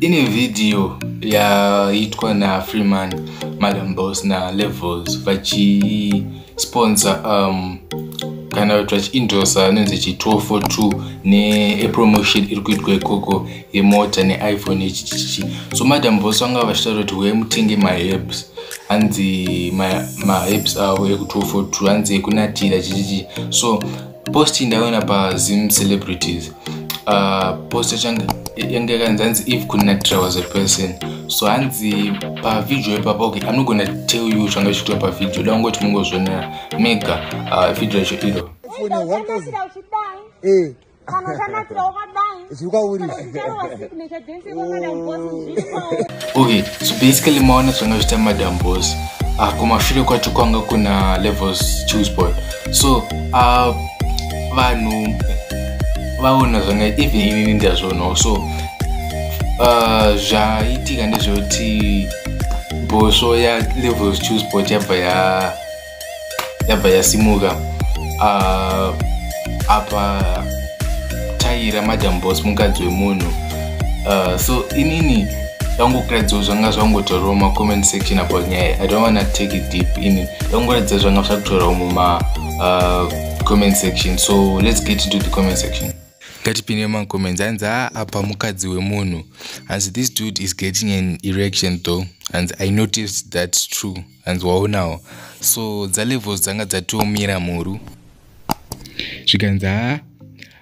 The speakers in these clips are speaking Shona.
ine vhidhiyo yaitwa nafreeman madam boss nalevels vachisponsa um, kana kuti vachiindosa anonzi chi 1242 nepromotion iri kuitwa ikoko yemota neiphone yechichichi so madam boss vanga vachitaura kuti wee mutenge maherbs hanzi maherbs avo eku 1242 hanzi ekunatira chichichi so post ndaona pazim celebrities uh, post yachange yange yakanzi hanzi if kune natira was a person so hanzi pavideo ipapa okay i'm not gonna tell you changa chichiitwa pavideo da ungoti mungozvionera mega uh, video yacho iro eh. okay so basically maona zvanga zviita madam boss uh, ah, kumashure kwacho kwanga kuna levels choose boy so uh, vanhu vaona zvanga even inini ndazvoonawo so uh, zvaitika ndezvekuti bhosvo yalevels choose boy yabva ya yabva yasimuka uh, apa taira madam boss mukadzi wemunhu uh, so inini ndangokuradziwo zvanga zvangotaurawo macomment section about nyaya i don't wanna take it deep ini ndangoratidza zvanga zvakutorawo muma uh, comment section so let's get into the comment section ngatipinde macomments hanzi a apa mukadzi wemunhu hanzi this dude is getting an erection though hanzi i noticed that's true hanzi waonawo so dzalevels dzanga dzatiomira mhuru zvikanzi haa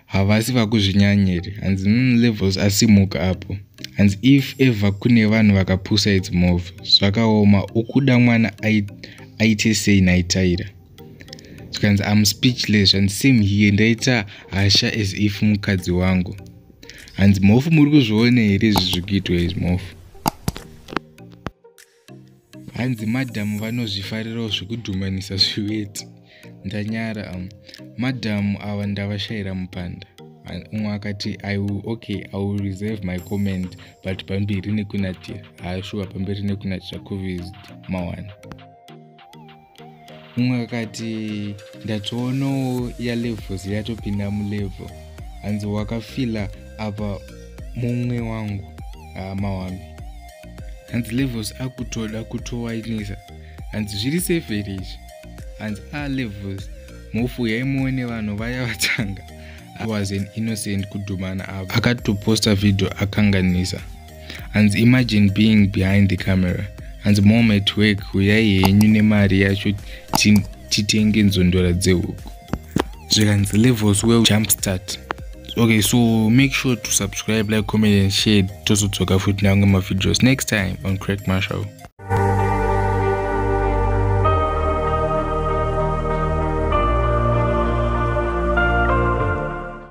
havasi vakuzvinyanyiri hanzi mm, levels asimuka apo hanzi if ever kune vanhu vakapusa its move zvakaoma ukuda mwana aite sei naitaira zvikanzi am speechless and same here ndaita hasha as if mukadzi wangu hanzi mhofu muri kuzviona here izvi zviri kuitwa izvi mhofu hanzi madhamu vanozvifarirawo zvekudhumanisa zviweti ndanyara um, madhamu ava ndavashayira mupanda umwe akati okay i will reserve my comment but pamberi nekunatira haashuwa pamberi nekunatira covid mawana mumwe akati ndatoonawo yalevels yatopinda mulevel hanzi wakafila apa mumwe wangu hama wambi hanzi levels akutoda kutowainisa hanzi zviri safe here izvi hanzi a ah, levels mhofu yaimuone vanhu vaya vatanga was an innocent kudhumana avo akatoposta vhidhio akanganisa hanzi imagine being behind the camera hanzi mom at work huyai henyu nemari yacho titenge nzondora dzehuku zvikanzi levels well jump start okay so make sure to subscribe like comment and share tozodzoka futi nange mavideos next time on crack marshall